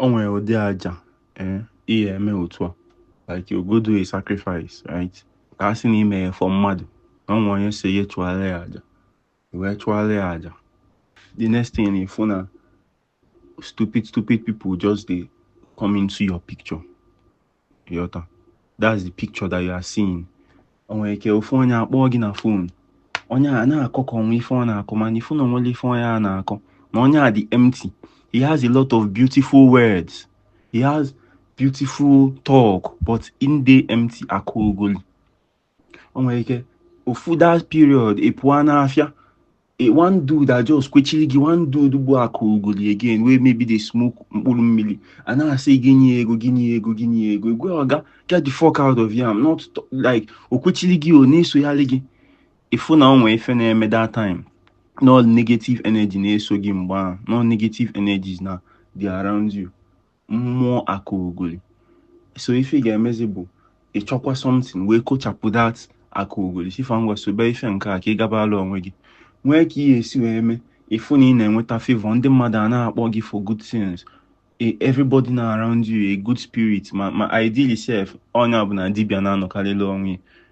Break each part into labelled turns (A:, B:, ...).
A: o nwere ụdị aja eh, ị ya-eme otu a like you go do a sacrifice right ka a sị na i me ya for mmadụ na o nwe onye sị ya chụọla ya aja wee chụọla ya aja the next thing ị fụ na stupid stupid people just dey come into your picture yọta that's the picture that you are seeing o nwere ike ofu onye akpọọ gị na phone onye a na-akọ ka o nwe ife ọ na-akọ mana ị fụ na o nwerọ ife onye a na-akọ na onye a dị empty he has a lot of beautiful words he has beautiful talk but in dey empty akaogoli o nwere ike ofu that period ị pụọ n'afịa one dude a just kwechiri gị one dude bụ akaogoli again wey maybe dey smoke mkpụrụ mmiri a na-asị gị nye ego gị nye ego gị nye ego egwe oga get the fuck out of here not like o kwechiri gị o na-esoyalị gị ị fụ na o nwe ife na-eme that time na negative energy na-eso gị mgbe ahụ na negative energies na-adị around you mmụọ akaogoli so ife ị ga-emezi bụ ịchọkwa something wee kochapụ that akaogoli sị fa ngwa sobe ife nke a ka ị gabaala onwe gị nwee ka ị ya-esi wee mee ị fụ na ị na-enweta favor ndị mmadụ a na-akpọ gị for good things E- everybody nọ around you a good spirit ma ma ideally sef onye ọbụna dibịa na-anọkalịla onwe ya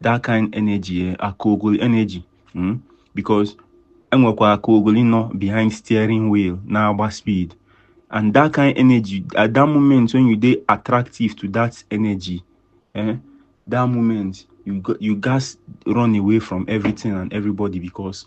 A: that kind energy eh, aka ogoli energy hmm? because enwekwa aka ogoli nọ behind steering wheel na-agba speed and that kind energy at that moment when you dey attractive to that energy eh, that moment you you gats run away from everything and everybody because